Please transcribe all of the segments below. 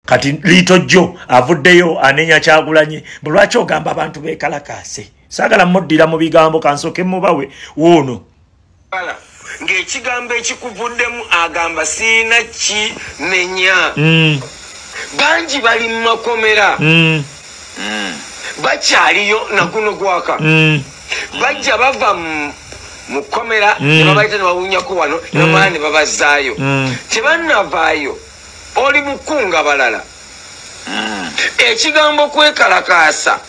kati liito jjo avuddeyo anenya kyagulanye mbu lwaki ogamba abantu bekalakaase saagala muddira mu bigambo kansooke mubawe wuuno ng'ekigambo ekikuvuddemu agamba siina ki nenya mm. bangi bali mu makomera mm. mm. bakyaliyo naguno gwaka bajja bava mu komera nebabaita nebawunyako wano nebamala nebabazaayo tebanavaayo Oli mu kkunga balala. Hmm. Ekigambo kwekalakaasa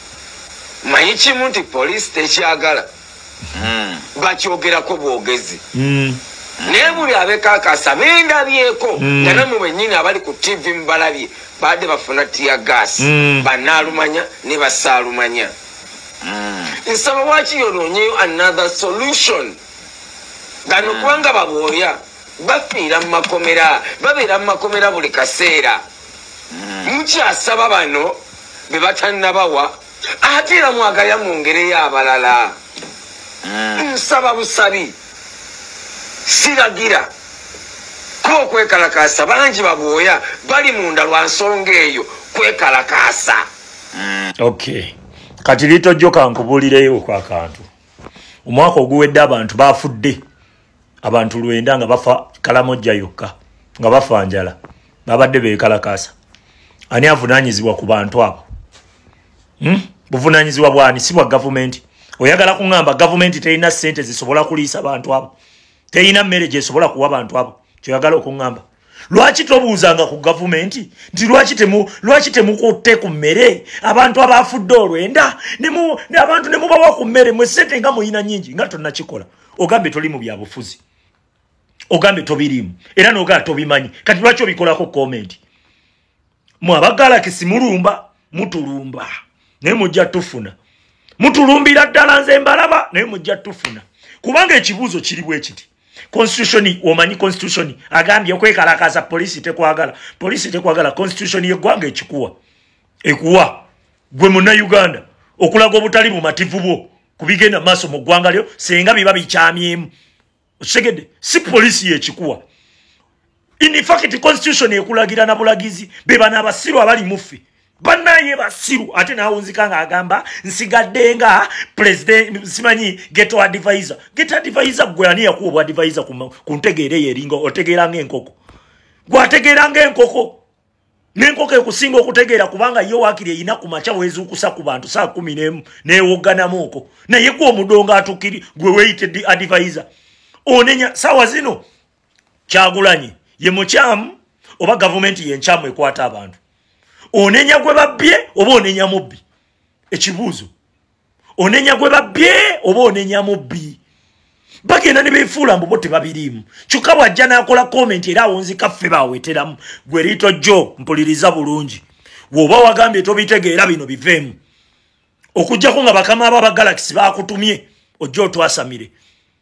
manyi kimu nti poliisi tekyagala hmm. bakyogerako bwogezi hmm. naye buli abekakasa bendabyeko nga namwe benyini abali ku tivi mubalabye baadde bafuna tiya gaasi banaalumanya ne basaalumanya nsaba waki yononyeyo another solution gano kubanga babwoya bafiira mu makomera babeera mu makomera buli kaseera hmm. mukyasaba bano be batannabawa ate era mwagaya mu ngereyo abalala hmm. nsaba busabi siragira kuba okwekalakaasa bangi babwoya bali munda lwa nsonga eyo kwekalakaasa hmm. ok kati litojjo kankubuulireyo okwakantu omwaka oguwedde abantu bafudde abantu lwenda nga bafa kalamojja yokka nga bafa njala babadde bekalakaasa ani avunanyizibwa ku bantu abo hmm? buvunanyizibwa bwani si bwa gavumenti oyagala kuŋamba gavumenti terina sente zisobola kuliisa bantu abo terina mmere gyesobola kuwa bantu abo kyoyagala okuŋamba lwaki tobuuzanga ku gavumenti nti lwaki temukutte ku mmere abantu abaafudde olwenda abantu ne mubawa ku mmere mwe sente nga muyina nyingi nga tonnakikola ogambye toli mu byabufuzi ogambye tobiriimu era nogaa tobimanyi kati lwaki obikolako komenti mwe abagalakisi mulumba mutulumba naye mujja tufuna mutulumbira ddala nze mbalaba naye mujja tufuna kubanga ekibuuzo kiri bwe kiti constitution omanyi constitution agambye okwekalakaasa poliisi tekwagala poliisi tekwagala constitution yeggwanga ekikuwa ekuwa gwe munnauganda okulaga obutali bumativu bwo ku bigenda maaso mu ggwanga lyo singa biba bikyamyemu osegede si polisi yekikuwa infact constitution ekulagira na bulagizi bebana abasiru abali muffe banaye basiru ate nawunzika nga agamba nsigadde nga president simanyi geto advisor geto advisor gwe ani yakuwa obwadvisor ku ntegeera eyo eringa otegeera nga enkoko gwategeera nga enkoko nenkoko ekusinga okutegeera kubanga ye wakiri eyina ku makya wezuukusa ku bantu saa kumi nemu newogganamu oko naye gwe omudongo atukiri gwe weyite di advisor onenya saawa zino kyagulanyi ye mukyamu oba gavumenti yenkyamu ekwata abantu onenya gwe babbye oba onenya mubbi ekibuuzo onenya gwe babbye oba onenya mubbi bagenda ne befuula mbubo tebabiriimu kyokka bw'ajja n'akola komenti era awonzika ffe baweteramu gwe liito jjo mpuliriza bulungi woba wagambye tobitegeera bino biveemu okujjako nga bakama abo abagalakisi bakutumye ojja otwasamire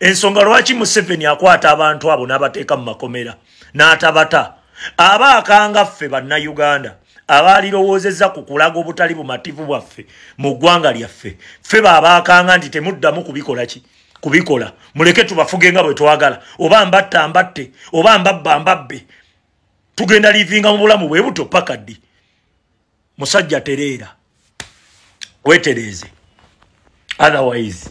ensonga lwaki museveni akwata abantu abo n'abateeka mu makomera n'atabata aba akanga ffe bannayuganda abaalirowoozezza ku kulaga obutali bumativu bwaffe mu ggwanga lyaffe ffe baabaakanga nti temuddamu kubikola ki kubikola muleke tubafuge nga bwe twagala oba mbatta mbatte oba mbabba mbabbe tugenda liivinga mu bulamu bwe buto paka ddi musajja tereera wetereeze otherwise